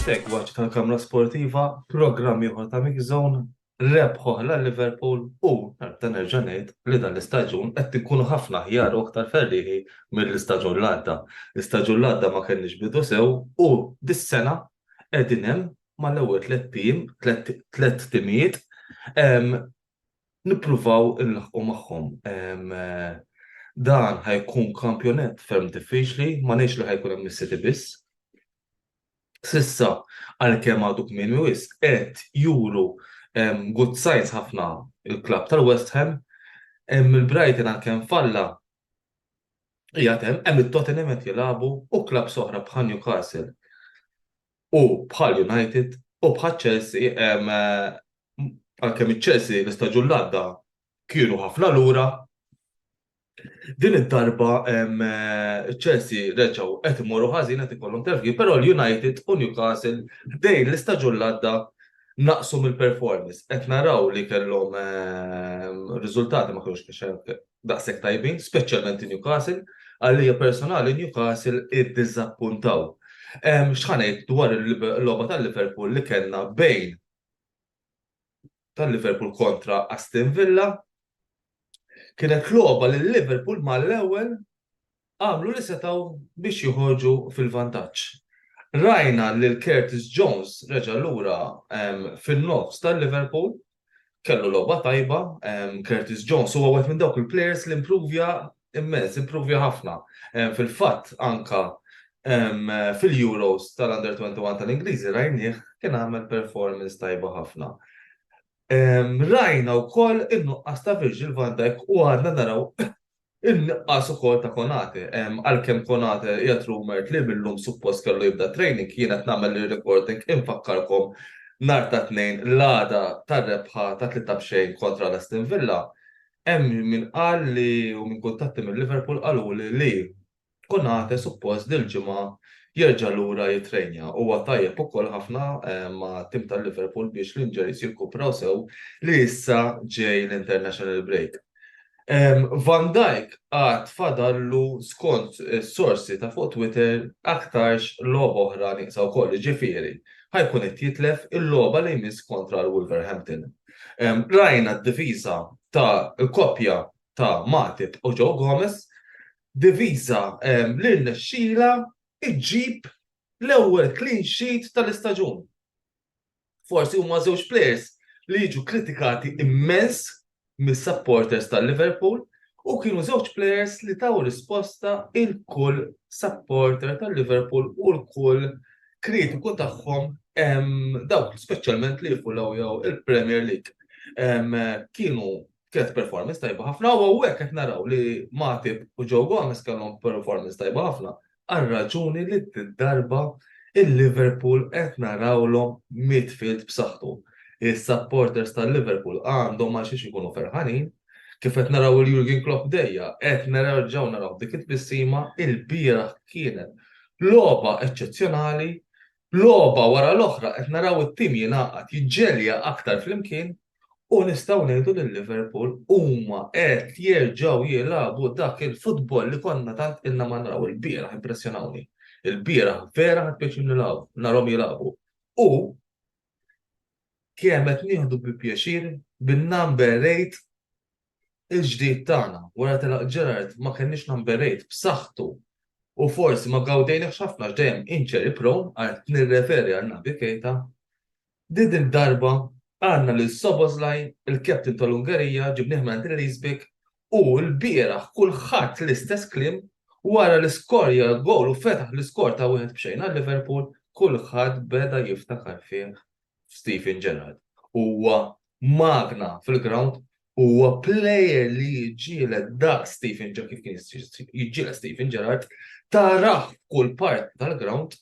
Segwaċi tal-Kamra Sportiva, programm ieħor ta' Mix Zone, rebħu ħla Liverpool u nerġa' nerġa' ngħid li dan l-istaġun qed inkunu ħafna aħjar u aktar ferrieħi mill-istaġun l-għadda. L-istaġun l-għadda ma kellniex bidu sew u dis-sena qegħdin hemm mal-ewwel tliet tim, tliet timijiet, nippruvaw inlaħqu magħhom. Dan ħajkun kampjonett ferm diffiċli, ma ngħidx li ħajkun hemm is-City biss. Sissa għalkemm għadu kmieni wisq qed juru good signs ħafna il-klabb tal-West Ham, hemm il-Brighton għalkemm falla qiegħed hemm, hemm it-Tottenham qed jilagħbu u klabbs oħra bħal Newcastle. u bħal United u bħaċ-Chelsea għalkemm iċ-Chelsea l-istaġun li għadda kienu ħafna lura, din id-darba iċ-Chelsea reġgħu qed imorru ħażin qed ikollhom terfgin, però l-United u Newcastle ħdejn l-istaġun li għadda naqqsu mill-performance. Qed naraw li kellhom riżultati ma kinux daqshekk tajbin, speċjalment Newcastle, għalija personali Newcastle iddiżappuntaw. X'ħanejt dwar il-logħba tal-Liverpool li kellna bejn tal-Liverpool kontra Aston Villa kienet logħba li Liverpool mal-ewwel għamlu li setgħu biex joħorġu fil-vantaġġ. Rajna lil Curtis Jones reġa' lura fin-nofs tal-Liverpool, kellu logħba tajba, Curtis Jones huwa wieħed minn dawk il-players li impruvja immens, impruvja ħafna. Fil-fatt anka fil-Euros tal-Under 21 tal-Ingliżi rajnieh kien għamel performance tajba ħafna. Rajna wkoll in-nuqqas ta' Virgil van Dijk u għadna naraw In-nuqqas ukoll ta' Konate, għalkemm Konate qiegħed rumored li mil-lum suppost kellu jibda t-training, jien qed nagħmel ir-recording infakkarkom nhar tat-Tnejn l-għada tar-rebħa ta' tlieta b'xejn kontra l-Aston Villa, hemm min qal li u min kuntatti mil-Liverpool qaluli li Konate suppost dil-ġimgħa jerġa' lura jittrejnja. Huwa tajjeb ukoll ħafna mat-tim ta' Liverpool biex l-injuries jirkupraw sew li issa ġej l-international break. Van Dijk għad fadallu skont is-sorsi ta' fuq Twitter aktarx logħba oħra nieqsa wkoll, jiġifieri ħa jkun qed jitlef il-logħba li jmiss kontra l-Wolverhampton. Rajna d-difiża tal-koppja ta' Matip u Joe Gomez Diviża li rnexxielha ġġib l-ewwel clean sheet tal-istaġun. Forsi huma żewġ plejers li jiġu kritikati immens mis-supporters ta' Liverpool u kienu żewġ plejers li taw risposta 'l kull supporter ta' Liverpool u 'l kull kritiku tagħhom dawk speċjalment li jifulawjaw il-Premier League. Kienu kienet performance tajba ħafna u għek qed naraw li Matip u Joe Gomez kellhom performance tajba ħafna għal raġuni li darba il-Liverpool qed narawlhom midfield b'saħħtu. Is-supporters tal-Liverpool għandhom għal xiex ikunu ferħanin kif qed naraw il-Jurgen Klopp dejja, qed naraw ġew naraw dik it-tbissima il-bieraħ kienet logħba eċċezzjonali, logħba wara l-oħra qed naraw it-tim jingħaqad jiġġelja aktar flimkien u nistgħu ngħidu li Liverpool huma qed jerġgħu jilagħbu dak il-futbol li konna tant ilna ma naraw. Il-bieraħ impressjonawni. Il-bieraħ vera ħadd pjaċir nilagħbu, narhom jilagħbu. U kemm qed nieħdu bi pjaċir bin-number rate il-ġdid tagħna. Wara telaq Gerard ma kenniex number rate b'saħħtu u forsi ma gawdejniex ħafna x'dejjem inċeri prown għal nirreferi għal Nabi Kejta Din id-darba għandna lil Szoboszlai, il-captain tal-Ungerija, ġibnieh mingħand il-Leesbeek u lbieraħ kulħadd l-istess kliem wara li skorja l-gowl u fetaħ l-iskor ta' wieħed b'xejn għal Liverpool, kulħadd beda jiftakar fih f'Steven Gerrard. Huwa magna fil-grawnd, huwa plejer li jiġġieled daqs Steven Gerrard kif kien jiġġieled Steven Gerrard, tarah f'kull parti tal-grawnd,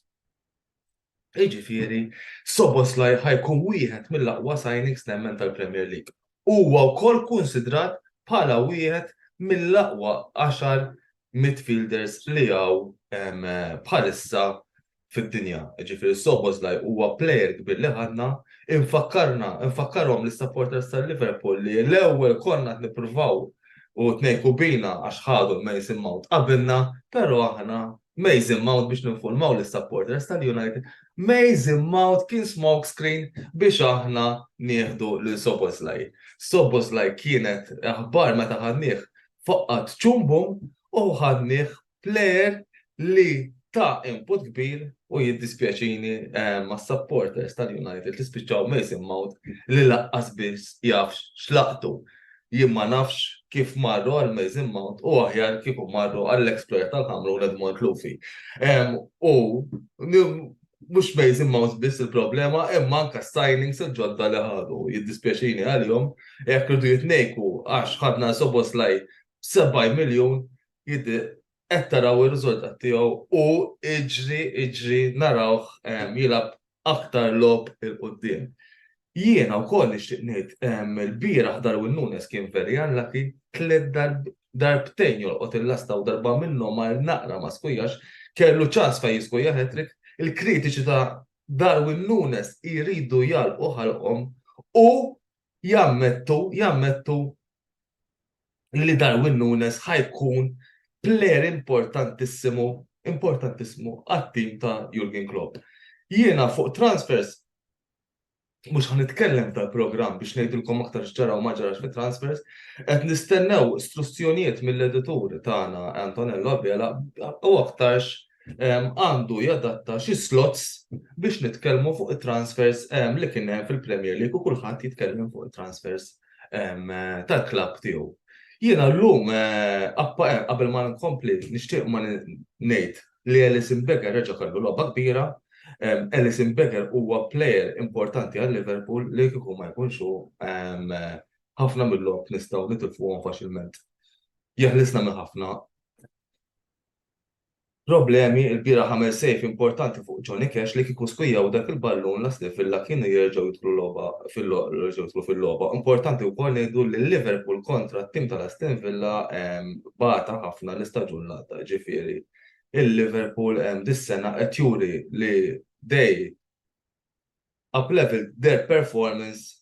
Jiġifieri, Szoboszlai ħa jkun wieħed mill-aqwa signings nemmen tal-Premier League. Huwa wkoll kunsidrat bħala wieħed mill-aqwa għaxar midfielders li hawn bħalissa fid-dinja. Jiġifieri, Szoboszlai huwa plejer kbir li ħadna. Infakkarna, infakkarhom lis-supporters ta' Liverpool li l-ewwel konna qed nippruvaw u tnejku bina għax ħadu l-Mason Mount qabilna, però aħna Mason Mount biex ninfurmaw l-supporters tal-United, Mason Mount kien smokescreen biex aħna nieħdu lil Soboslaj. Soboslaj kienet aħbar meta ħadnieh faqqat ċumbu u ħadnieh player li ta' input kbir u jiddispjaċini eh, ma' supporters tal-United li spiċċaw Mason Mount li laqqas biss jafx xlaqtu. Jien ma nafx kif marru għall-Mason Mount u aħjar kieku marru għall-exploit tal-Ħamrun Edmond Lufi. U mhux Mason Mount biss il-problema imma anke s-signings il-ġodda li ħadu. Jiddispjaċini għalihom jekk irridu jitnejku għax ħadna Szoboszlai b'70 miljun qed taraw ir-riżultat tiegħu u iġri iġri narawh jilgħab aktar logħob 'il quddiem. Jiena wkoll nixtieq ngħid il-bieraħ Darwin Nunez kien very unlucky tliet darbtejn jolqot il-lasta u darba minnhom ma naqra ma skujax, kellu ċans fejn jiskuja hat-trick, il-kritiċi ta' Darwin Nunez jridu jagħlqu ħalqhom u jammettu, jammettu li Darwin Nunez ħa jkun player importantissimu, importantissimu għat-tim ta' Jurgen Klopp. Jiena fuq transfers mhux ħa nitkellem tal-programm biex ngħidilkom aktar x'ġara u ma ġarax fi transfers, qed nistennew struzzjonijiet mill-editur tagħna Antonello Abela u aktarx għandu jadatta xi slots biex nitkellmu fuq it-transfers li kien hemm fil-Premier League u kulħadd jitkellem fuq it-transfers tal-klabb tiegħu. Jiena llum qabel ma nkompli nixtieq ma ngħid li Alisson Becker reġa' kellu logħba kbira. Alisson Becker huwa plejer importanti għal Liverpool li kieku ma jkunx hu ħafna mill-logħob nistgħu nitilfuhom faċilment. Jeħlisna minn ħafna. Problemi, Ilbieraħ għamel save importanti fuq Johnny Cash li kieku skwijaw dak il-ballun l-Aston Villa kienu jerġgħu jidħlu logħba jerġgħu jidħlu fil-logħba. Importanti wkoll ngħidu li Liverpool kontra t-tim tal-Aston Villa bata ħafna l-istaġun li għadda ġifieri l-Liverpool dis-sena qed juri li they up level their performance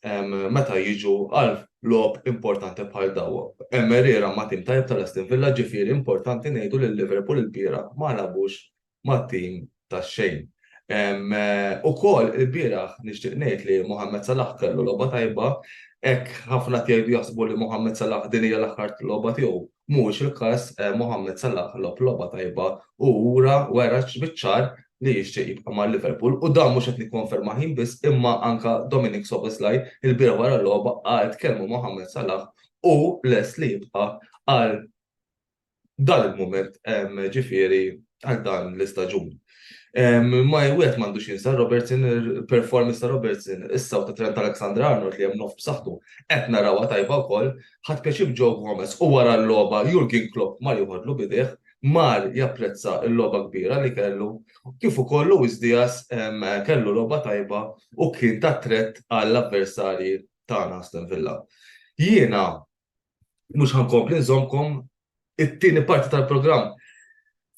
meta jiġu għal logħob importanti bħal daw. Hemm għerriera ma' tim tajjeb tal-Aston Villa ġifieri importanti ngħidu li Liverpool ilbieraħ ma lagħbux ma' tim tax-xejn. Ukoll ilbieraħ nixtieq ngħid li Mohammed Salah kellu logħba tajba hekk ħafna qed jgħidu jaħsbu li Mohammed Salah din hija l-aħħar logħba tiegħu Mhuwiex il-każ, Mohamed Salah logħob logħba tajba u ura, wera biċ-ċar li jixtieq jibqa' ma' Liverpool u dan mhux qed nikkonfermah jien biss imma anke Dominik Szoboszlai ilbieraħ wara l-logħba qal tkellmu Mohamed Salah hu lest li jibqa' għal dan il-mument ġifieri għal dan l-istaġun. Ma jwet m'għandux jinsa Robertson, performance ta' Robertson, issa u ta' Trent Alexander Arnold li hemm nof b'saħħtu, qed narawha tajba wkoll, ħadd pjaċib Joe Gomez u wara l-logħba Jurgen Klopp mar joħodlu bidejh, mar japprezza l-logħba kbira li kellu, kif ukoll Luis Diaz kellu logħba tajba u kien ta' threat għall-avversarji tagħna Aston Villa. Jiena mhux ħa nkompli nżommkom it-tieni parti tal-programm.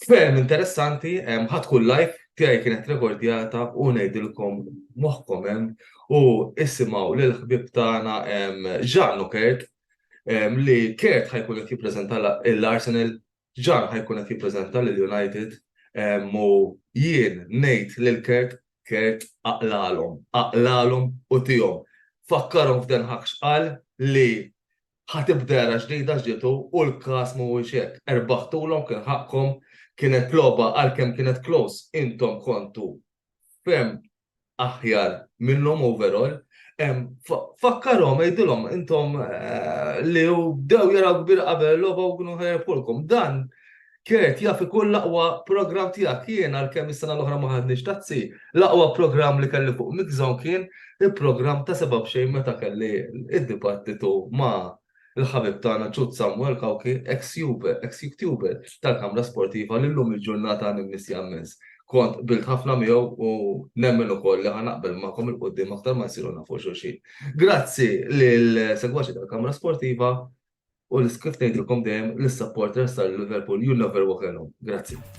Ferm interessanti, ħadd kull live tiegħi kienet rekordjata u ngħidilkom moħħkom hemm u isimgħu lil ħbib tagħna Ġannu Kert li Kert ħajkun qed jippreżenta l-Arsenal Ġan ħa jkun qed jippreżenta lil United u jien ngħid lil Kurt, Kurt aqlalhom, aqlalhom u tihom. Fakkarhom f'Den Haag x'qal li ħa tibda era ġdida ġietu u l-każ mhuwiex hekk. Erbaħtulhom kien ħaqqkom, kienet logħba għalkemm kienet close intom kontu ferm aħjar minnhom overall, fakkarhom għidilhom intom li u bdew jaraw kbir qabel logħba u kienu ħerbħulkom. Dan Kert jaf ikun l-aqwa program tiegħek jien għalkemm is-sena l-oħra ma ħadniex tazzi. L-aqwa program li kelli fuq Mixon kien il-program ta' sebab xejn meta kelli id-dibattitu ma' Il-ħabib tagħna Ċut Samwel Cauchi, eks Juve, eks Youtuber, tal-kamra sportiva li llum il-ġurnata nimmissja mmens. Kont qbilt ħafna miegħu u nemmen ukoll li ħa naqbel magħkom il-quddiem aktar ma nsiru nafu xulxin. Grazzi lil segwaċi tal-kamra sportiva u l-iskif ngħidilkom dejjem l-supporters tal-Liverpool you never walk alone. Grazzi.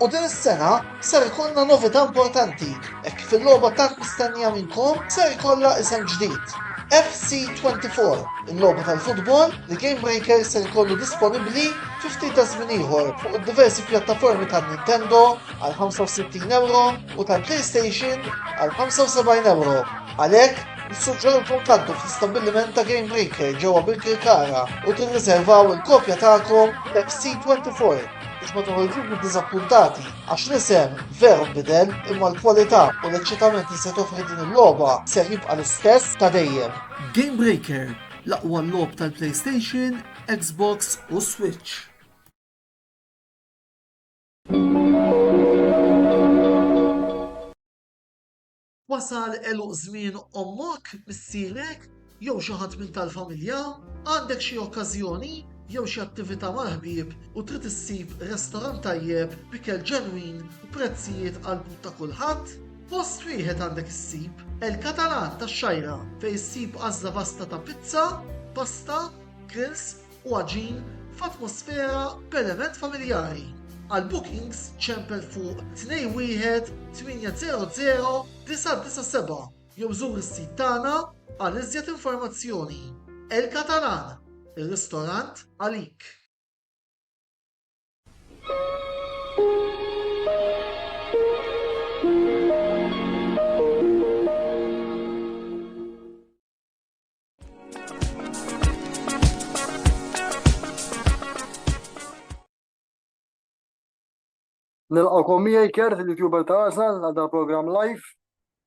U din is-sena ser ikollna novità importanti, hekk kif il-logħba tant mistennija minnkom ser ikollha isem ġdid. FC24, il-logħba tal-futbol li Game Breaker ser ikollu disponibbli fi ftit ta' żmien ieħor fuq id-diversi pjattaformi ta' Nintendo għal 65 euro u ta' PlayStation għal 75 euro. Għalhekk, nissuġġerulkom tgħaddu fl-istabbiliment ta' Game Breaker ġewwa bil-Kirkara u tirriservaw il-kopja tagħkom FC24 biex ma toħorġux minn diżappuntati għax l-isem veru bidel imma l-kwalità u l-eċċitament li se toffri din il-logħba se jibqa' l-istess ta' dejjem. Game Breaker, l-aqwa logħob tal-PlayStation, Xbox u Switch. Wasal għeluq żmien ommok, missierek, jew xi ħadd minn tal-familja? Għandek xi okkażjoni jew xi attività mal-ħbieb u trid issib restorant tajjeb b'ikel ġenwin u prezzijiet għall-but ta' kulħadd? Post wieħed għandek issib, El Catalan tax-Xgħajra, fejn issib għażla vasta ta' pizza, pasta, grills, u għaġin f'atmosfera b'element familjari. Għal bookings ċempel fuq 21 800 997 jew żur is-sit tagħna għal iżjed informazzjoni. El Catalan, ir-ristorant għalik. Nilqakom miegħi kert il-YouTuber ta' Arsenal għal dal programm live.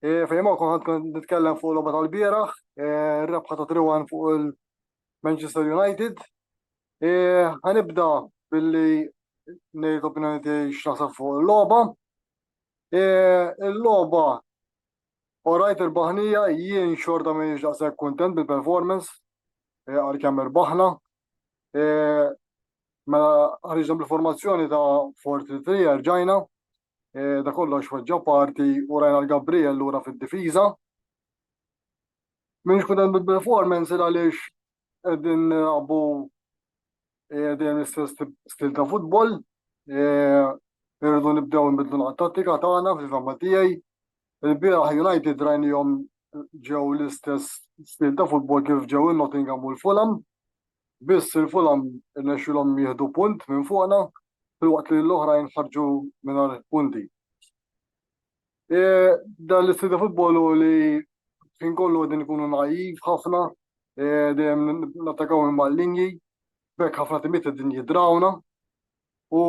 E, fejn ma konħad kont nitkellem fuq logħba tal-bieraħ, e, rebħa ta' triwan fuq il-Manchester United. E, ħanibda billi ngħid opinjoni tiegħi x'naħseb fuq il-logħba. Il-logħba U rajt irbaħnija, jien xorta m'iniex daqshekk kuntent bil-performance, eh, għalkemm irbaħna. Eh, mela ħariġna bil-formazzjoni ta' 4-3 rġajna, eh, da kollox weġġa parti u rajna l-Gabriel lura fid-difiża. M'iniex kuntent bil-performance il għaliex qegħdin għabu eh, dejjem l-istess stil ta' futbol, eh, irridu nibdew nbidlu l-tattika tagħna fil-fama tiegħi. Il-bieraħ United rajnihom ġew l-istess stil ta' futbol kif ġew il-Nottingham u l-Fulham. Biss il-Fulham nexxilhom jieħdu punt minn fuqna, filwaqt li l-oħrajn ħarġu mingħajr punti. Eh, dan l-istil ta' futbol u li fin kollu għedin ikunu naiv ħafna, eh, dejjem nattakaw minn mal-linji, bekk ħafna timiet għedin jidrawna u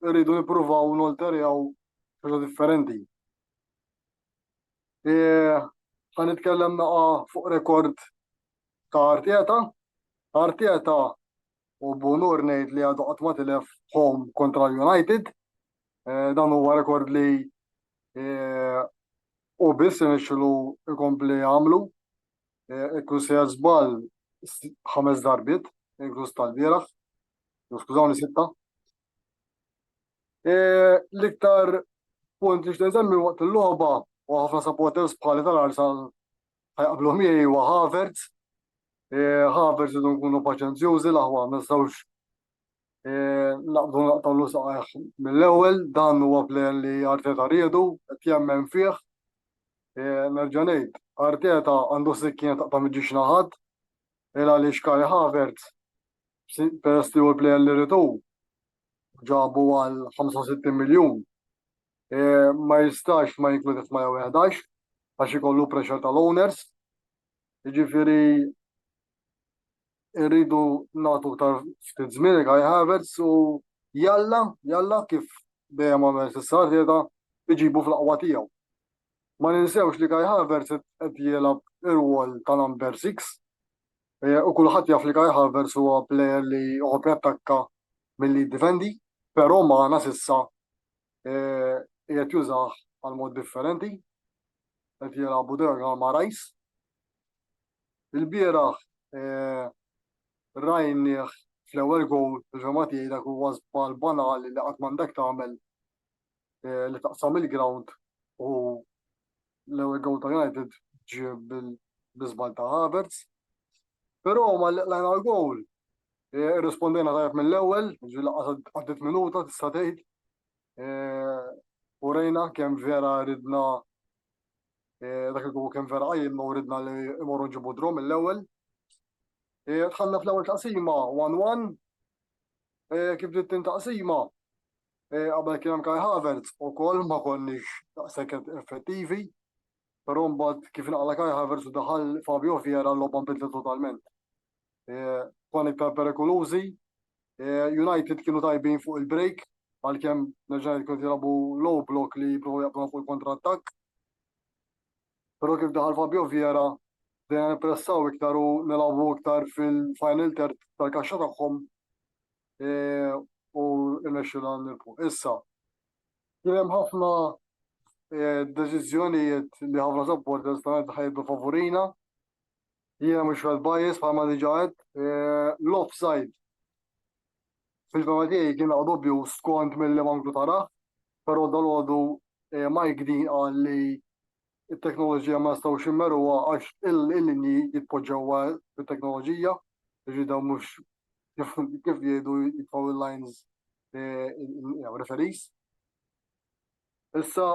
rridu nipruvaw nolterjaw xaġa differenti. Eh, ħan nitkellem naqa fuq rekord ta' Arteta. Arteta u b'unur ngħid li għadu qatt ma tilef home kontra United. Eh, dan huwa rekord li eh, u biss nixxilu ikompli għamlu. Eh, Ikku se żball ħames darbit, inkluż tal-bieraħ, skużawni sitta. L-iktar punt li xtenżemmi waqt il-logħba u ħafna supporters bħali tal-Arsenal Ħajqablu miegħi huwa Havertz. Havertz idu nkunu paċenzjużi l-aħwa ma nistgħux naqbdu naqtawlu saqajh mill-ewwel dan huwa plejer li Arteta riedu qed jemmen fih. Nerġa' ngħid, Arteta għandu sikkien taqta' miġiex naħat il għaliex Kai Havertz peress li hu l-plejer li riedu ġabu għal 65 miljun ma jistax ma jinkludi f'111 għax ikollu pressure tal-owners. Jiġifieri irridu nagħtu iktar ftit żmien Kai Havertz u jalla, jalla kif dejjem għamel s'issa Arteta iġibu fl-aqwa tiegħu. Ma ninsewx li Kai Havertz qed jilgħab ir-rwol ta' number six u kulħadd jaf li Kai Havertz huwa plejer li jħobb jattakka milli jiddifendi, però magħna s'issa qiegħed jużah għal mod differenti, qed jilgħabu derga ma' Rice. Il-bieraħ rajnieh fl-ewwel gowl fil-fehma tiegħi dak huwa żball banali li qatt m'għandek tagħmel li taqsam il-ground u l-ewwel gowl ta' United ġie bil-żball ta' Havertz. Però ma laqlajna l-gowl Irrispondejna tajjeb mill-ewwel, ġifieri lanqas għaddiet minuta tista' tgħid. U rejna kemm vera ridna dak il-għu kemm vera qajjimna u ridna li imorru nġibu drom mill-ewwel. Dħalna fl-ewwel taqsima 1-1. Kif bdiet tin taqsima, qabel kien hemm Kai Havertz ukoll ma konniex daqshekk effettivi, però mbagħad kif inqala' Kai Havertz u daħal Fabio Vieira l-logħba nbidlet totalment. Tfal iktar perikolużi. United kienu tajbin fuq il-break għalkemm nerġa' ngħid kienu qed jilagħbu low block li jippruvaw jaqbduha fuq il-kontrattakk. Però kif daħal Fabio Vieira bdejna nippressaw iktar u nilagħbu iktar fil-final third tal-kaxxa tagħhom u rnexxielna nirbħu. Issa, kien hemm ħafna deċiżjonijiet li ħafna supporters ta' United ħa jibqgħu favurina. Jiena mhux Fred Bias bħalma diġà għedt. L-offside fil-fema tiegħi kien għadu dubju skont milli Manklu tarah, però dalgħodu Mike Dean qal li t-teknoloġija ma nistgħux immeruha għax il-linji jitpoġġewha bit-teknoloġija, jiġri dawn mhux kif jgħidu jitfgħu l-lines referees. Issa,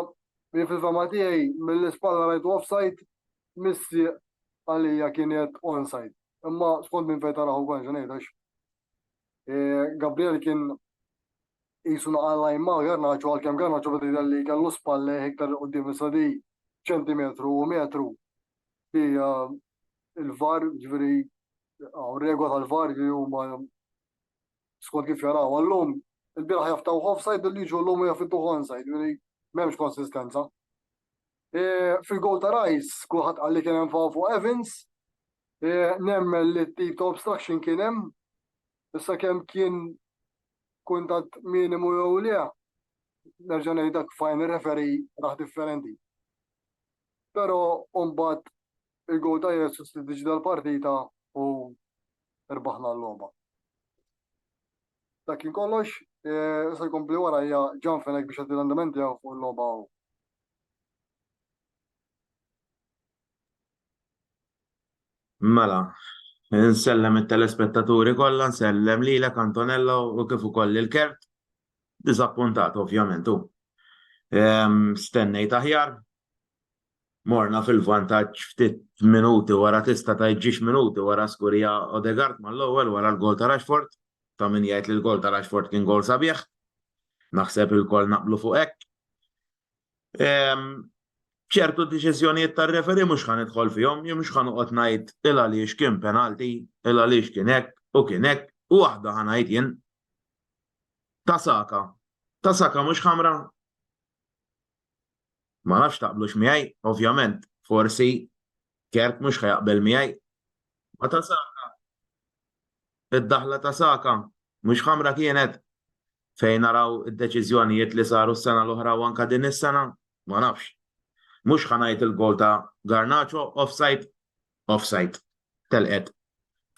jien fil-fehma tiegħi mill-ispalla rajtu offside, missieq għalija kienet onside. Imma skont minn fejn taraħu kont xi ngħid għax Gabriel kien jisu naqalla imma Garnaċo għalkemm Garnaċo beda jidher li kellu spalle iktar qudiem issa di ċentimetru u metru di il-var ġifieri regola tal-var li huma skont kif jaraw llum, il-bieraħ jaftawh offside billi jiġu llum u jafittuh onside, jiġifieri m'hemmx konsistenza. E, Fil-goal ta' Rice, kulħadd qal li kien hemm faw fuq Evans, e, nemmen li t-tip ta' obstruction kien hemm, issa kemm kien kuntat minimu jew le, nerġa' ngħid dak fajn referi raħ differenti. Però mbagħad il-goal ta' Jesus li diġi dal-partita u rbaħna l-logħba. Dak kien kollox, eh, se jkompli warajja ġan fenek biex għaddi l-andament tiegħu fuq il-logħba hawn. Mela, nsellem it-telespettaturi kollha, nsellem lilek Antonella u kif ukoll il-kert. Disappuntat ovvjament u. Stennejt aħjar, morna fil-vantaġġ ftit minuti wara tista' tgħid ġiex minuti wara skurija Odegaard mal-ewwel wara l-gowl ta' Rashford, ta' min jgħid li l-gowl ta' Rashford kien gowl sabiħ. Naħseb ilkoll naqblu fuq hekk. ċertu deċiżjonijiet tar-referee mhux ħa nidħol fihom, jien mhux ħa noqgħod ngħid il għaliex kien penalti, il għaliex kien hekk u kien hekk, u waħda ħa ngħid jien. Ta' Saka. Ta' Saka mhux ħamra? Ma nafx taqblux miegħi, ovvjament, forsi Kert mhux ħa jaqbel miegħi. Ma ta' Saka. Id-daħla ta' Saka mhux ħamra kienet fejn naraw id-deċiżjonijiet li saru s-sena l-oħra u anka din is-sena, ma nafx. Mhux ħa ngħid il-gowl ta' Garnacho offside, offside. Telqet.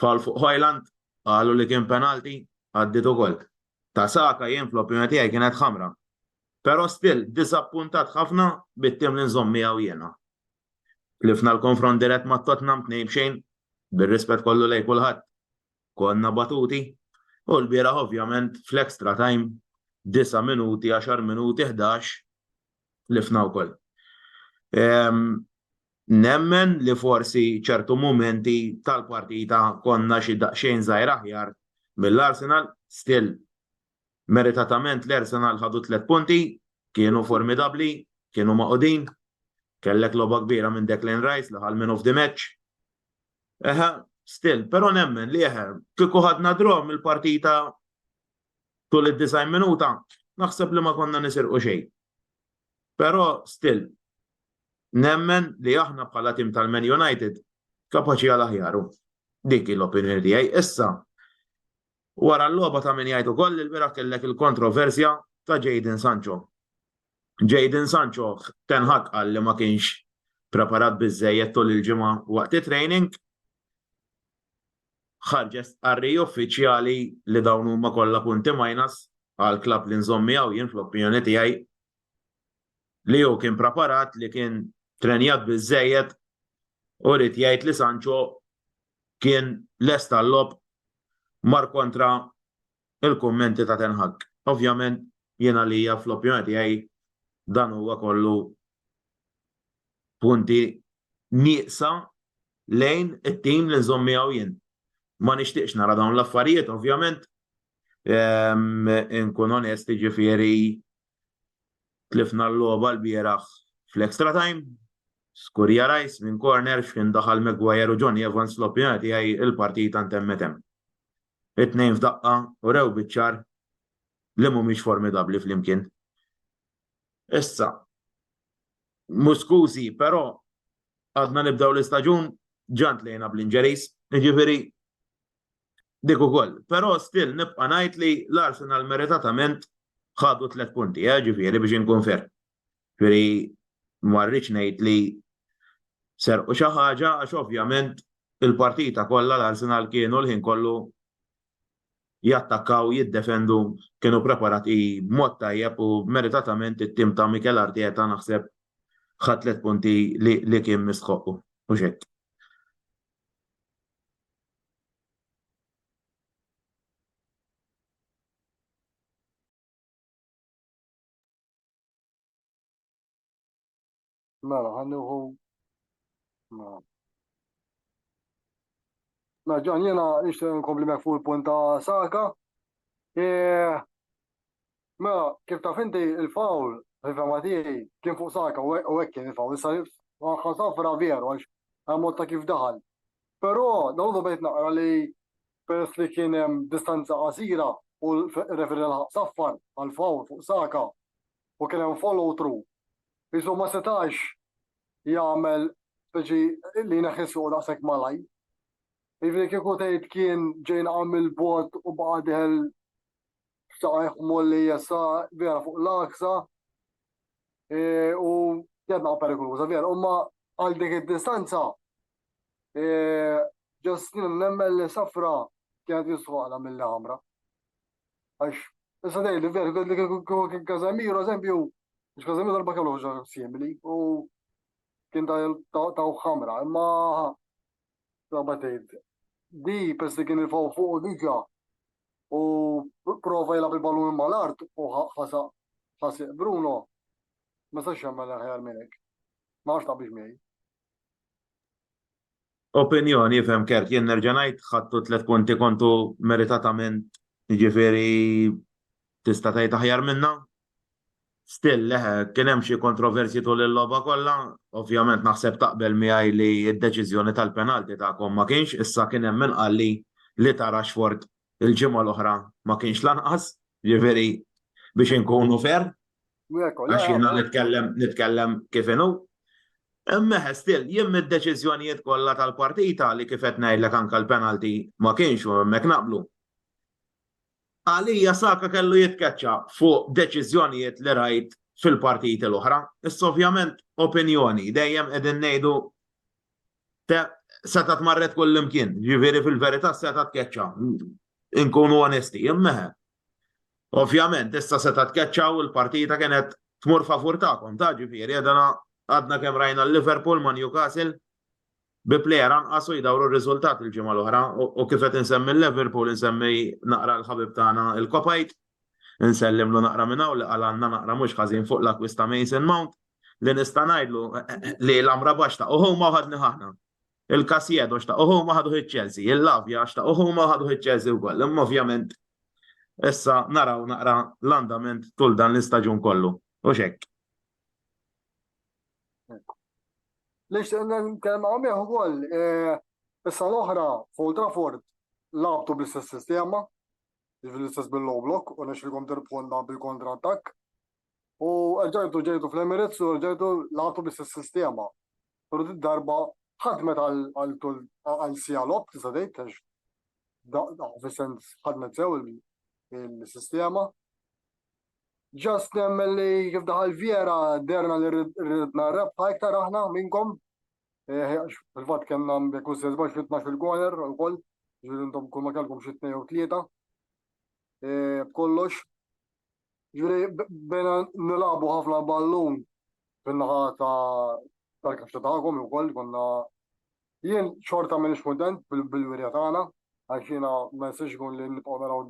Fall fuq Hojland, qalu li kien penalti, għaddiet ukoll. Ta' Saka jien fl-opinjoni tiegħi kienet ħamra. Pero still, diżappuntat ħafna bit-tim li nżomm miegħu jiena. Tlifna l-konfront dirett ma' Tottenham tnejn b'xejn, bir-rispett kollu lejn kulħadd, konna batuti, u lbieraħ ovvjament fl-extra time, disa' minuti, għaxar minuti, ħdax, tlifna wkoll. Nemmen li forsi ċertu mumenti tal-partita konna xi daqsxejn żgħir aħjar mill-Arsenal, still Meritatament l-Arsenal ħadu t-tliet punti, kienu formidabbli, kienu magħqudin. Kellek logħba kbira minn Declan Rice li ħa l-Man of the Match. Eħe, still, però nemmen li eħe, kieku ħadna draw mill-partita tul id-90 minuta, naħseb li ma konna nisirqu xejn. Però still, nemmen li aħna bħala tim tal-Man United kapaċi għal aħjaru. Dik l-opinjoni tiegħi. Issa, Wara l-logħba ta' min jgħid ukoll li lbieraħ kellek il-kontroversja ta' Jadon Sancho. Jadon Sancho, Ten Hag qal li ma kienx preparat biżżejjed tul il-ġimgħa waqt it-training. Ħarġet stqarrija uffiċjali li dawn huma kollha punti minus għall-klabb li nżomm miegħu jien fl-opinjoni tiegħi li hu kien preparat, li kien trenjat biżżejjed u ried jgħid li Sancho kien lest għal-logħob mar kontra il-kummenti ta' Ten Hag. Ovvjament jien għalija fl-opinjoni tiegħi dan huwa kollu punti nieqsa lejn it-tim li nżomm miegħu jien. Ma nixtieqx nara dawn l-affarijiet, ovvjament, ehm, inkun onesti ġifieri Tlifna l-logħba lbieraħ fl-extra time. Skurja Rice minn corner x'kien daħal Maguire u Jonny Evans fl-opinjoni tiegħi l-partita ntemmet hemm. It-tnejn f'daqqa urew biċ-ċar li mhumiex formidabbli flimkien. Issa, mhux skużi, però għadna nibdew l-istaġun, ġa ntlejna bl-injuries, jiġifieri Dik ukoll. Però still nibqa' ngħid li l-Arsenal meritatament ħadu tliet punti, eh, ġifieri biex inkun fer. Ġifieri ma rridx ngħid li serqu xi ħaġa għax ovvjament il-partita kollha l-Arsenal kienu l-ħin kollu jattakkaw, jiddefendu, kienu preparati b'mod tajjeb u meritatament it-tim ta' Mikel Arteta naħseb ħadd tliet punti li kien mistħoqqu. U xek. Mela, ħanniħu. Mela. Mela, ġan jena nixtieq nkompli mek fuq il-punt ta' Saka. E, Mela, kif taf inti il-fawl, fil-fema tiegħi, kien fuq Saka u hekk kien il-fawl, issa ħa safra veru għax għamot ta' kif daħal. Però nawdu bejt naqra li peress li kien hemm distanza qasira u referi laħaq saffar għal-fawl fuq Saka u kien hemm follow through. Isu ma setax jagħmel speċi li neħis fuq daqshekk malaj. Jiġifieri kieku tgħid kien ġejn għamil bot u baqa' diħel xtaqqa jħmu li jessa vera fuq l-aksa e, u jedna perikoluza vera. Umma għal dik id-distanza e, ġastin nemmen li safra kienet jistħuqla mill-ħamra. Għax, issa dej li vera, li kien Kazamiro, eżempju, biex Kazamiro darba kellu ħoġa simili u kien ta' ħamra, imma Prova tgħid. Di pers li kien irfgħu fuq u diġà u prova jilgħab il-ballun mal-art u ħasaq ħasaq Bruno. Ma sax jagħmel aħjar minn hekk. Ma għax taqbix miegħi. Opinjoni fem kerk jien nerġa' ngħid ħadtu tliet punti kontu meritatament jiġifieri tista' tgħid aħjar minna Still, le, kien hemm xi kontroversji tul il-logħba kollha. Ovvjament naħseb taqbel miegħi li d-deċiżjoni tal-penalti tagħkom ma kienx, issa kien hemm min qalli li ta' Rashford il-ġimgħa l-oħra ma kienx lanqas, jiġifieri biex inkunu fair. Għax jiena nitkellem nitkellem kif inhu. Imma still, jien mid-deċiżjonijiet kollha tal-partita li kif qed ngħidlek anke l-penalti ma kienx u hemmhekk naqblu. Għalija Saka kellu jitkeċċa fuq deċiżjonijiet li rajt fil-partiti l-oħra. Issa ovvjament opinjoni, dejjem qegħdin ngħidu seta' tmarret kull imkien, ġifieri fil-verità seta' tkeċċa. Inkunu onesti, immeħe. Ovvjament, issa seta' tkeċċa u l-partita kienet tmur favur tagħkom, ta' ġifieri għadna kemm rajna l-Liverpool ma' Newcastle, bi plejer anqas u jdawru r-riżultat il-ġimgħa l-oħra u kif qed insemmi l-Liverpool insemmi naqra l-ħabib tagħna il-Kopajt, insellimlu naqra minn hawn li qalgħalna naqra mhux ħażin fuq l-akkwist ta' Mason Mount li nista' ngħidlu li l-Amrabat xtaqgħu huma u ħadnih aħna. Il-Casieddo xtaqgħu huma ħaduh iċ-Chelsea, il-Lavia xtaqgħu huma u ħaduh iċ-Chelsea wkoll. Imma ovvjament issa naraw naqra l-andament tul dan l-istaġun kollu. Hux hekk. Lix nkellem hawn miegħu wkoll issa l-oħra fuq Trafford labtu bl-istess sistema, jiġifieri l-istess bil-low block u nexxilkom tirbħulna bil-kontra attakk. U ġejtu ġejtu fl-Emirates u ġejtu labtu bl-istess sistema. Però din darba ħadmet għal tul għal siegħa logħob tista' tgħid għax fis-sens ħadmet sew il-sistema. Ġast nemmen li kif daħal Viera derna li ridna rebħa iktar aħna minnkom. Eh, fil-fatt kellna jekk mhux se żbax fit-12 il-goler ukoll, ġifieri intom kull ma kellkom xi tnejn u tlieta. Eh, b'kollox. Ġifieri bena nilagħbu ħafna ballun fin-naħa ta' tal-kaxxa tagħkom ukoll konna jien xorta minn kuntent bil-wirja tagħna għax jiena ma jistax ikun li nibqgħu naraw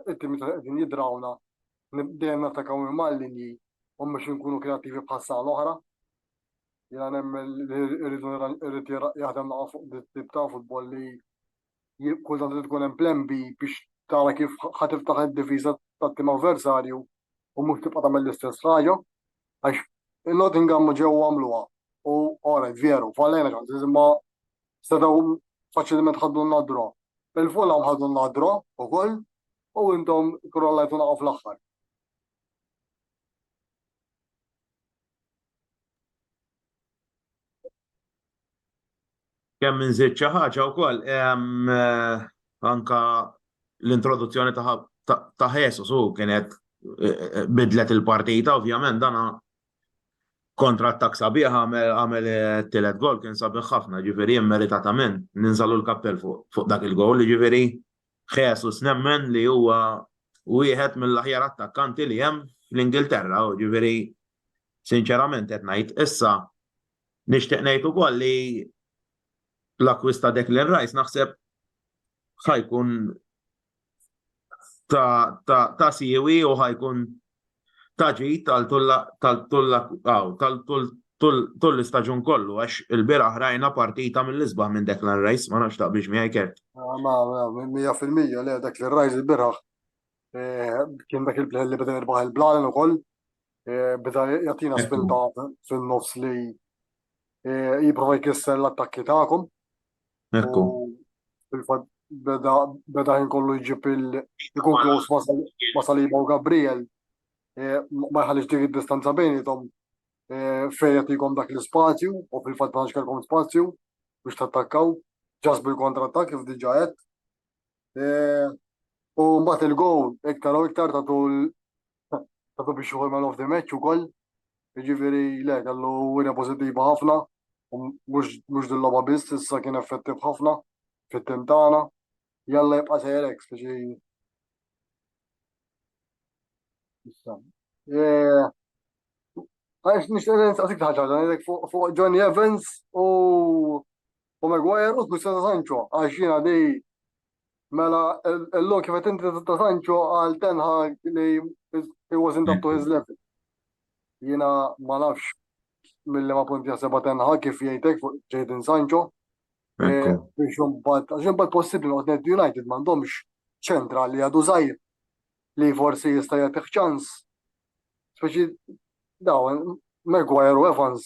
it-timi ta' qegħdin jidrawna dejjem nattakaw minn mal-linji u mhux inkunu kreattivi bħal sala l-oħra. Jiena nemmen li rridu irrid jaħdem naqa' fuq dit-tip ta' futbol li kull tant li tkun hemm plan B biex tara kif ħa tiftaħ id-difiża tat-tim avversarju u mhux tibqa' tagħmel l-istess ħaġa. Għax il-Nottingham ġew għamluha u ora veru, fallejna x'għad iżma setgħu faċilment ħaddu n-nadra. Il-Fulham ħadu n-nadra ukoll u intom krollajtu naqgħu fl-aħħar. Kemm minn żied xi ħaġa wkoll eh, anka l-introduzzjoni ta' Jesus u kienet eh, eh, bidlet il-partita, ovvjament dana Kontra attakk sabiħ għamel it-tielet goal kien sabiħ ħafna, jiġifieri immeritatament ninżagħlu l-kappell fuq dak il-goal, jiġifieri Jesus nemmen li huwa wieħed mill-aħjar attakkanti li hemm fl-Ingilterra, jiġifieri sinċerament qed ngħid issa nixtieq ngħid ukoll li l-akkwist ta' Declan Rice naħseb ħa jkun ta' siwi u ħajkun ta' ġid tal-tull istaġun kollu, għax il-bira ħrajna partita mill-isbaħ minn Declan Rice, ma nafx taqbix miegħi kert. Ma, ma, mija fil-mija, le, dak li Rice il-biraħ, eh, kien dak il-bħel li beda jirbaħ il-blalen u koll, eh, beda jatina spinta fil-nofs li eh, jiprofa jkisser l-attakki ta'kom. Ekku. Fil-fatt beda beda ħin kollu jġib il-ikun klos ma' Saliba u Gabriel eh, ma jħallix dik id-distanza bejnietom eh, fejn qed jkom dak l-ispazju u fil-fatt ma kellkom spazju biex tattakkaw ġas bil-kontratta kif diġa qed U mbagħad il-gow iktar u iktar ta' tul ta' tu biex uħol mal-off the match u koll. Ġifiri, le, kellu wina pozittiva ħafna, mux dil-loba biss, issa kien effettiv ħafna fit-tintana. Jalla jibqa' sejrek, speċi. Għax nixtieq nistaqsik ħaġa fuq Johnny Evans u u Maguire u Christian ta' Sancho għax jiena li mela l-lum kif qed inti ta' Sancho għal Ten Hag li he wasn't up to his level. Jiena ma nafx mill-li ma punti jaħseba Ten Hag kif jgħidek fuq Jadon Sancho. Eh, biex imbagħad għax imbagħad possibbli noqgħod United m'għandhomx ċentra li għadu żgħir li forsi jista' jagħtih ċans. Speċi dawn Maguire u Evans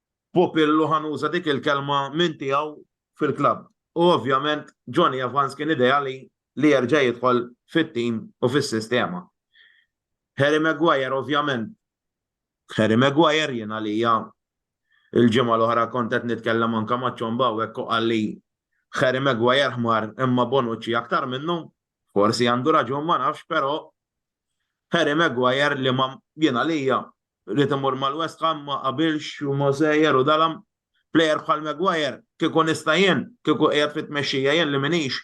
Pupillu ħa nuża dik il-kelma minn tiegħu fil-klabb u ovvjament Jonny Evans kien ideali li jerġa' jidħol fit-tim u fis-sistema. Harry Maguire ovvjament Harry Maguire jien għalija il-ġimgħa l-oħra kont qed nitkellem anke ma' Ċomba hawnhekk u qalli Harry Maguire ħmar imma Bonucci aktar minnu, forsi għandu raġun ma nafx però Harry Maguire li ma jien għalija Rrid imur mal-West Ham, ma qabilx u ma sejjer u dalam. Plejer bħal Maguire, kieku nista' jien, kieku qiegħed fit-tmexxija jien li m'iniex,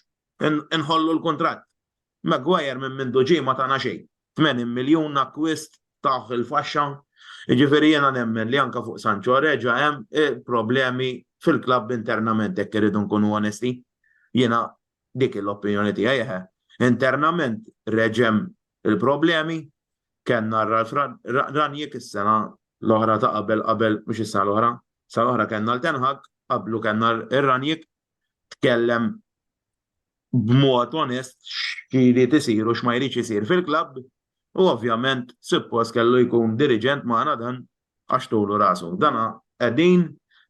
inħollu l-kuntratt. Maguire minn mindu ġie ma tana xejn. 80 miljun akkwist tah il-faxxa. Jiġifieri jiena nemmen li anke fuq Sancho reġa' hemm problemi fil-klabb internament jekk irridu nkunu onesti. Jiena dik hi l-opinjoni tiegħi eħe. Internament reġa' hemm il-problemi Kellna r-Ralph Rangnick is-sena l-oħra ta' qabel qabel, mhux is-sena l-oħra, sena l-oħra kellna l-Ten Hag, qablu kellna r-Rangnick, tkellem b'mod onest x'jrid isir u x'ma jridx isir fil-klabb u ovvjament suppost kellu jkun diriġent magħna dan għax tulu rasu. Dan qegħdin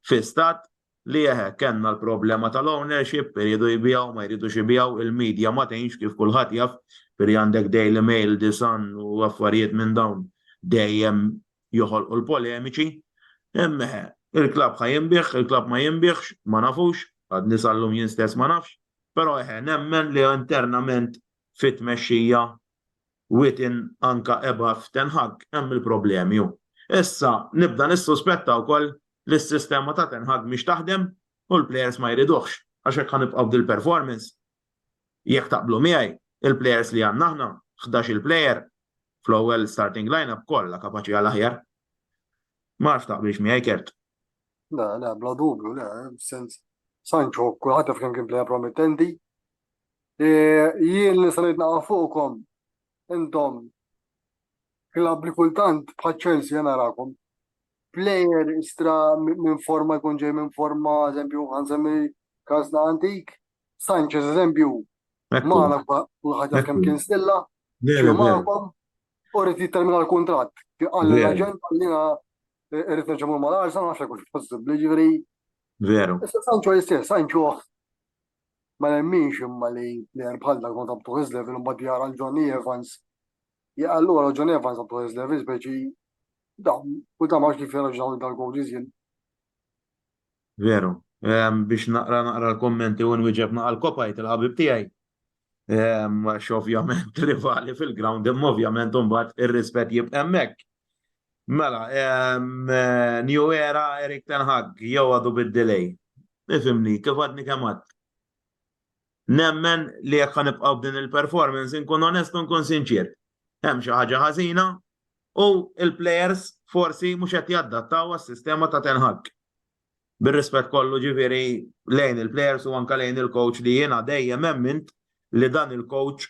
fi stat li eħe kellna l-problema tal-ownership, iridu jbiegħu, ma jridux ibiegħu, il-media ma tgħinx kif kulħadd jaf, ġifieri għandek Daily Mail, The Sun u affarijiet minn dawn dejjem joħolqu l-polemiċi. Imma eħe, il-klabb ħa jinbiegħ, il-klabb ma jinbiegħx, ma nafux, għadni sal-lum jien stess ma nafx, però eħe nemmen li internament fit-tmexxija within anka above ten Hag, hemm il-problemi u. Issa nibda nissuspetta wkoll li s-sistema ta' ten Hag mhix taħdem u l-plejers ma jriduhx għax hekk ħa nibqgħu b'dil-performance. Jekk taqblu miegħi, il-plejers li għandna aħna, ħdax-il plejer fl-ewwel starting line-up kollha kapaċi għal aħjar. Ma nafx taqbilx miegħi Kurt. Le, le, bla dubju, le, sens Sancho kulħadd jaf kemm kien plejer promettenti, Jien li salejt naqa' fuqkom intom klabb li kultant bħal Chelsea narakom plejer istra minn forma jkun ġej minn forma, eżempju, għansemmi kasna antik, Sanchez, eżempju, maħna kulħadd jaf kemm kien stilla, maħkom, u rrit jittermina l-kontrat. Għalli l-agent, għallina rrit nġemur mal-arsa, għaxa kux possibli ġivri. Veru. Issa Sancho jistess, Sancho Ma nemminx imma li plejer bħal dak ma ta' b'tuħ level imbagħad jara l-Johnny Evans. Allura Johnny Evans ta' b'tuħ level speċi da u ta' max kif jirraġunaw dal-coaches jien. Veru, biex naqra naqra l-kommenti u nwieġeb naqra l-kopajt il-ħabib tiegħi. Għax ovvjament rivali fil-ground imma ovvjament imbagħad ir-rispett jibqa' hemmhekk. Mela, New Era Erik Ten Hag jew għadu bid-delay. Ifimni, kif għadni kemm għad. Nemmen li jekk ħanibqgħu b'din il-performance inkun onest u nkun sinċier. Hemm xi ħaġa ħażina u l-players forsi mhux qed jaddattaw għas-sistema ta' Ten Hag. Bir-rispett kollu ġifieri lejn il-players u anke lejn il-coach li jiena dejjem emmint li dan il-coach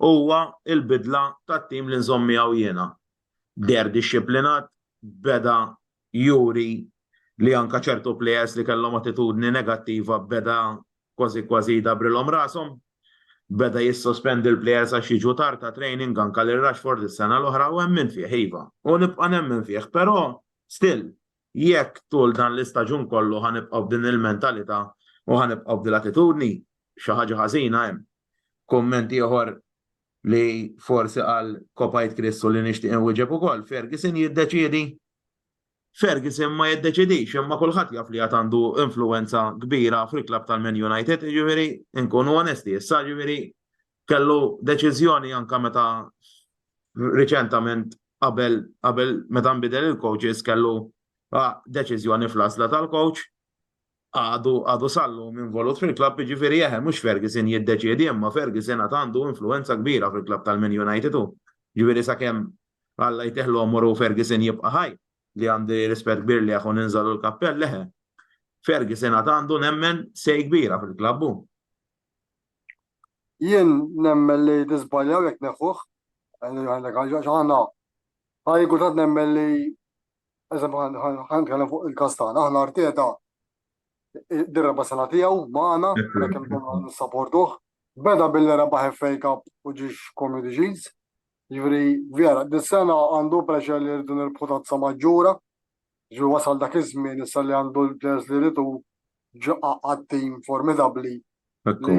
Huwa l-bidla tat-tim li nżomm miegħu jiena. Deher dixxiplinat, beda juri li anke ċertu plejers li kellhom attitudni negattiva beda kważi kważi jdabrilhom rashom. Beda jissospendi l-plejers għax jiġu tard għat-training, anke lil Rashford is-sena l-oħra u emmin fih iva. U nibqa' nemmen fih, però still jekk tul dan l-istaġun kollu ħa nibqgħu b'din il-mentalità u ħa nibqgħu b'dil-attitudni, xi ħaġa ħażina hemm. Kumment ieħor li forsi qal kopajt Kristu li nixtieq inwieġeb ukoll, Ferguson jiddeċiedi. Ferguson ma jiddeċidix, imma kulħadd jaf li għad għandu influenza kbira fil-klabb tal-Man United, jiġifieri nkunu onesti, issa jiġifieri kellu deċiżjoni anke meta riċentament qabel qabel meta nbidel il-coaches kellu deċiżjoni fl-għażla tal-coach għadu għadu sallum involut fil-klabb jiġifieri eħe mhux Ferguson jiddeċiedi imma Ferguson għad għandu influwenza kbira fil-klabb tal-Man United hu. Jiġifieri sakemm Alla jtih l-għomor u Ferguson jibqa' ħaj, li għandi rispett kbir lejh u ninżagħlu l-kappell eħe. Ferguson għad għandu nemmen say kbira fil-klabb hu. Jien nemmen li niżbaljaw jekk neħuh, għandek raġun għax aħna għandi kultant nemmen li Eżempju, ħan nitkellem fuq il-każ tagħna, aħna Arteta dir-reba' sena tiegħu magħna, hekk imkien nissaportuh. Beda billi rebaħ FA Cup u ġiex Community Shields. Ġifieri vera, dis-sena għandu pressure li rridu nirbħu tazza maġġura. Ġifieri wasal dak iż-żmien issa li għandu l-players li rridu ġaqqa għat-tim formidabbli Ekku.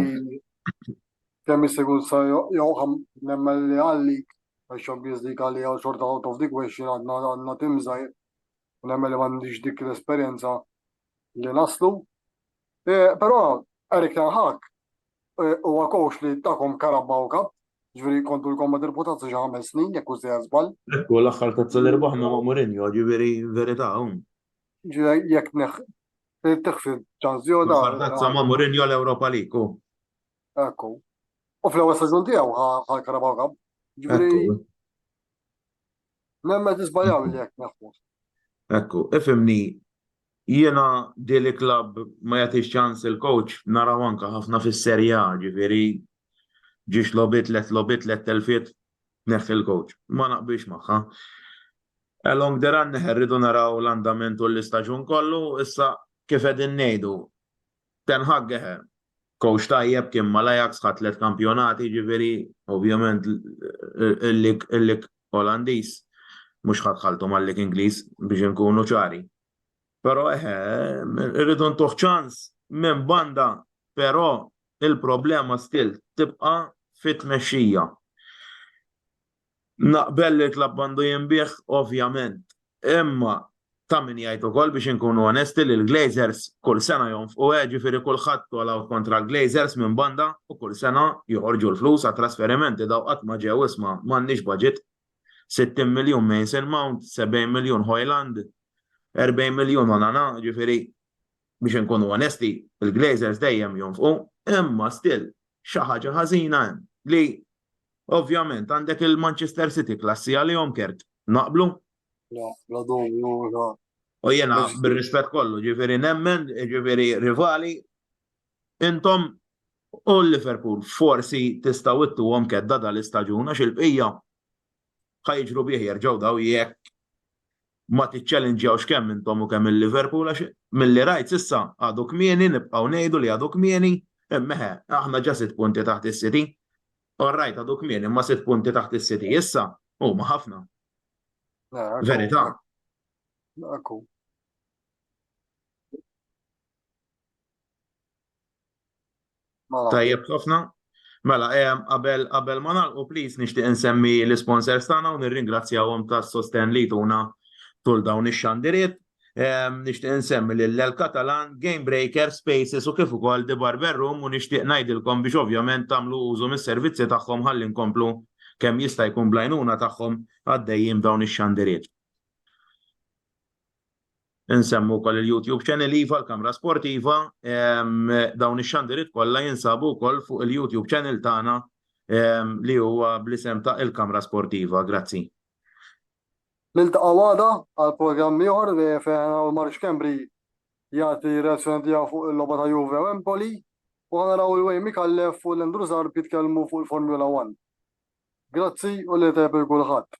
Kemm jisigur sa jew ħam nemmen li għallik għax Champions League għalli għal xorta out of the question għadna għadna timżajr u nemmen li m'għandix dik l-esperjenza li naslu. Eh, però Erik Ten Hag eh, huwa coach li takom karabba u kap, ġifieri kontu l-komma dirputazza xi ħames snin jekk u sejja żball. Ekku l-aħħar tazza li rbaħna ma' Mourinho, ġifieri verità hawn. Ġifieri jekk neħ Tiħsib ċażjona. Fardazza ma' Mourinho l-Ewropa League u. Ekku. U fl-ewwel staġun tiegħu ħal Karabaw Cup. Ġifieri. Nemmen tisbajaw li jekk naħfus. Ekku, ifimni jiena dili klabb ma jagħtix ċans il-coach naraw anka ħafna fis-serja, ġifieri ġiex lobit let lobit let telfiet Neħħi l-coach. Ma naqbilx magħha. Along the run irridu naraw l-andament u l-istaġun kollu, issa kif qegħdin ngħidu, Ten Hag coach tajjeb kien mal-Ajax ħa tliet kampjonati, jiġifieri ovvjament il-lig Olandiż mhux ħa dħaltu mal-lig Ingliż biex inkunu ċari. Però eħe, irridu ntuh ċans minn banda, però il-problema still tibqa' fit-tmexxija. Naqbel li l-klabb għandu jinbiegħ ovvjament, imma ta' min jgħid ukoll biex inkunu onesti li l-Glazers kull sena jonfqu eh, ġifieri kulħadd all out kontra l-Glazers minn banda u kull sena joħorġu l-flus għat-trasferimenti daw qatt ma ġew isma' m'għandniex budget. 60 miljun Mason Mount, 70 miljun Hojlund, 40 miljun Onana, ġifieri biex inkunu onesti, il-Glazers dejjem jonfqu, imma still xi ħaġa ħażina hemm li ovvjament għandek il-Manchester City klassi għalihom kert naqblu. U jena bir-rispett kollu, ġifieri nemmen, ġifieri rivali Intom u Liverpool forsi tistgħu ittuhom kedda dan l-istaġun għax il-bqija ħa jiġru bih jerġgħu daw jekk ma tiċċelinġjawx kemm intom u kemm il-Liverpool għax milli rajt s'issa għadu kmieni nibqgħu ngħidu li għadu kmieni imma eħe aħna ġa sitt punti taħt is-City. All right għadu kmieni imma sitt punti taħt is-City issa huma ħafna. Verità. Akku. Mela. Tajjeb ħafna. Mela, qabel qabel ma nagħlqu please nixtieq insemmi l-isponsors tagħna u nirringrazzjahom tas-sostenn li jtuna tul dawn ix-xandiriet. Nixtieq insemmi lil El Catalan, Game Breaker, Spaces u kif ukoll The Barber Room u nixtieq ngħidilkom biex ovvjament tagħmlu użu mis-servizzi tagħhom ħalli nkomplu kemm jista' jkun bl-għajnuna tagħhom għaddejjin b'dawn ix-xandiriet. Insemmu wkoll il-YouTube channel iva l-Kamra Sportiva. Dawn ix-xandiriet kollha jinsabu wkoll fuq il-YouTube channel tagħna li huwa bl-isem ta' il-Kamra Sportiva. Grazzi. Niltaqgħu għada għal programm ieħor fejn naraw Mark Schembri jagħti r-reazzjoni tiegħu fuq il-logħba ta' Juve u Empoli u ħa naraw il-Wayne Micallef u l-Andrew Zarb jitkellmu fuq il-Formula One. Grazzi u lejl tajjeb lil kulħadd.